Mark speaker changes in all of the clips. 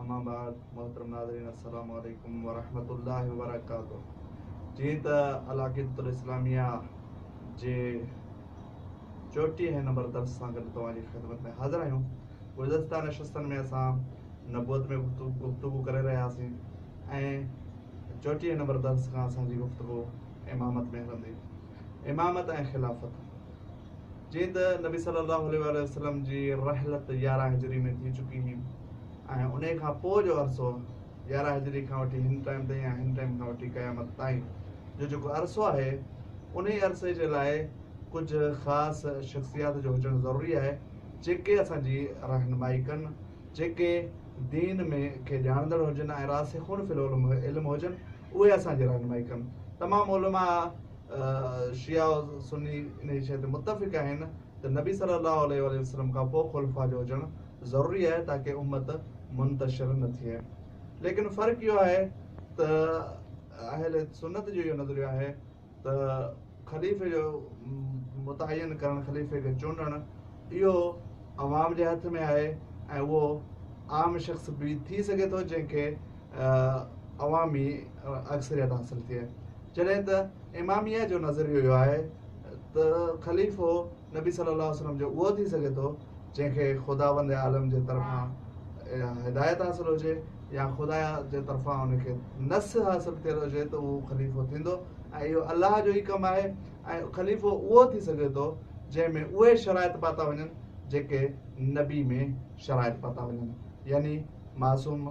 Speaker 1: اما بعد محترم ناظرين السلام عليڪم ورحمة الله وبرڪاته جيئن ته العقيدة الاسلاميه جي چوٽيهين نمبر درس سان گڏ توهان جي خدمت ۾ حاضر آهيون گذشته نشستن ۾ اسان نبوت ۾ گفتگو ڪري رهياسين ۽ چوٽيهين نمبر درس کان اسان جي گفتگو امامت ۾ هلندي امامت ۽ خلافت جيئن ته نبي صلّي اللّٰه عليه واٰله وسلّم جي رحلت يارهن هجري ۾ ٿي چڪي هئي ۽ انهي کان پوء جو عرصو يارهن هجري کان وٺي هن ٽائيم تائين يا هن ٽائيم کان وٺي قيامت تائين جو جيڪو عرصو آهي انهي عرصي جي لاء ڪجهه خاص شخصيات جو هجڻ ضروري آهي جيڪي اسان جي رهنمائي ڪن جيڪي دين ۾ کي ڄاڻندڙ هجن ۽ راسخون في العلم علم هجن اهي اسان جي رهنمائي ڪن تمام علماء شيعا و سني انهيء شيء تي متفق آهن ته نبي صلّي اللّٰه عليه واٰله وسلّم کان پوء خلفاء جو هجڻ ضروري آهي تاڪه امّت منتشر نه ٿئي. ليڪن فرق اهو آهي ته اهل سنّت جو اهو نظريو آهي ته خليفي جو متعين ڪرڻ، خليفي کي چونڊڻ اهو عوام جي هٿ ۾ آهي ۽ اهو عام شخص به ٿي سگهي ٿو جنهن کي عوامي اڪثريت حاصل ٿئي جڏهن ته اماميه جو نظريو اهو آهي ته خليفو نبي صلي الله عليه وسلم جو اهو ٿي سگهي ٿو جنهن کي خداوند عالم جي طرفان هدايت حاصل هجي يا خدا جي طرفان ان کي نس حاصل ٿيل هجي ته اهو خليفو ٿيندو ۽ اهو الله جو ئي ڪم آهي ۽ خليفو اهو ٿي سگهي ٿو جنهن ۾ اهي شرائط پاتا وڃن جيڪي نبي ۾ شرائط پاتا وڃن يعني معصوم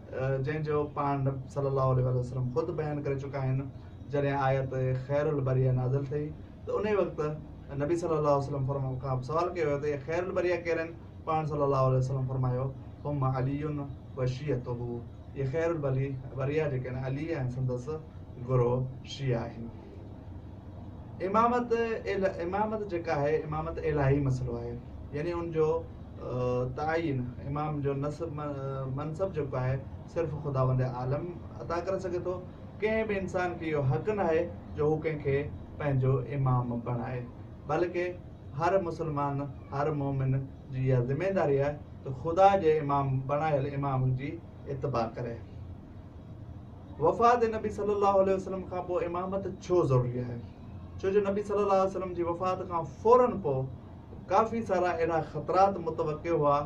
Speaker 1: جنهن جو پاڻ نبي صلي الله عليه واٰله وسلم خود بيان ڪري چڪا آهن جڏهن آيت خير البريه نازل ٿي ته انهي وقت نبي صلي الله عليه وسلم فرم کان سوال ڪيو ويو ته اهي خير البريه ڪير آهن پاڻ صلي الله عليه وسلم فرمايو هم علي وشيعته اهي خير البريه جيڪي آهن علي ۽ سندس گروهه شيعا آهن امامت امامت جيڪا آهي امامت الٰهي مسئلو آهي يعني ان جو تعين امام جو نصب منصب جيڪو آهي صرف خداوند عالم عطا ڪري سگهي ٿو ڪنهن به انسان کي اهو حق نه آهي جو هو ڪنهن کي پنهنجو امام بڻائي بلڪه هر مسلمان هر مومن جي اها ذميداري آهي ته خدا جي امام بڻايل امام جي اتباع ڪري وفات نبي صلي الله عليه وسلم کان پوء امامت ڇو ضروري آهي؟ ڇو جو نبي صلي الله عليه وسلم جي وفات کان فورا پوء ڪافي سارا اهڙا خطرات متوقع هئا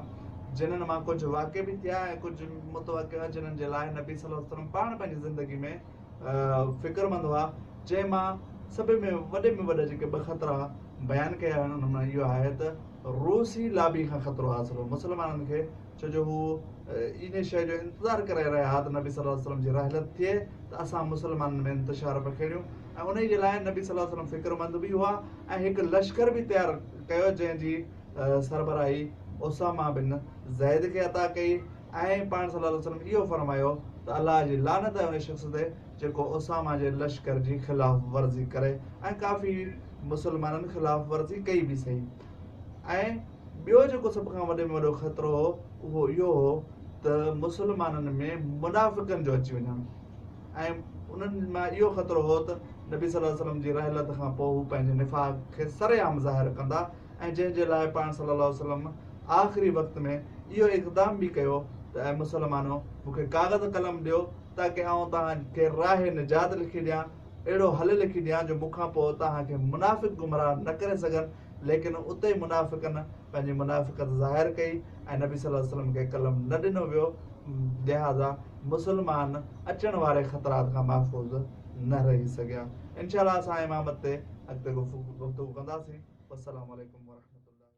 Speaker 1: جنن مان ڪجهه واقع به ٿيا ۽ ڪجهه متوقع هئا جنن جي لاء نبي صلي الله عليه وسلم پاڻ پنهنجي زندگي ۾ فڪرمند هئا جنهن مان سڀ ۾ وڏي ۾ وڏا جيڪي ٻه خطرا بيان ڪيا آهن انهن مان اهو آهي ته روسي لابي کان خطرو حاصل هو مسلمانن کي ڇو جو هو انهي شيء جو انتظار ڪري رهيا ها ته نبي صلي الله عليه وسلم جي رحلت ٿئي ته اسان مسلمانن ۾ انتشار پکيڙيون ۽ انهي جي لاء نبي صلي الله عليه وسلم فڪرمند به هئا ۽ هڪ لشڪر به تيار ڪيو جنهن جي سربراهي اسامه بن زيد کي عطا ڪئي ۽ پاڻ صلي الله عليه وسلم اهو فرمايو ته الله جي لعنت آهي انهي شخص تي جيڪو اسامه جي لشڪر جي خلاف ورزي ڪري ۽ ڪافي مسلمانن خلاف ورزي ڪئي به سهي ۽ ٻيو جيڪو سڀ کان وڏي ۾ وڏو خطرو هو اهو اهو هو ته مسلمانن ۾ منافقن جو اچي وڃڻ ۽ انهن مان اهو خطرو هو ته نبي صلي الله عليه وسلم جي رحلت کان پوء هو پنهنجي نفاق کي سر عام ظاهر ڪندا ۽ جنهن جي لاء پاڻ صلي الله عليه وسلم آخري وقت ۾ اهو اقدام به ڪيو ته اي مسلمانو مون کي ڪاغذ قلم ڏيو تاڪي آئون توهان کي راهه نجات لکي ڏيان اهڙو حل لکي ڏيان جو مون کان پوء توهان کي منافق گمراهه نه ڪري سگهن ليڪن اتي منافقن پنهنجي منافقت ظاهر ڪئي ۽ نبي صلي الله عليه وسلم کي قلم نه ڏنو ويو لهٰذا مسلمان اچڻ واري خطرات کان محفوظ نه رهي سگهيا انشاء الله اسان امامت تي اڳتي گفتگو ڪنداسين والسلام عليڪم ورحمة الله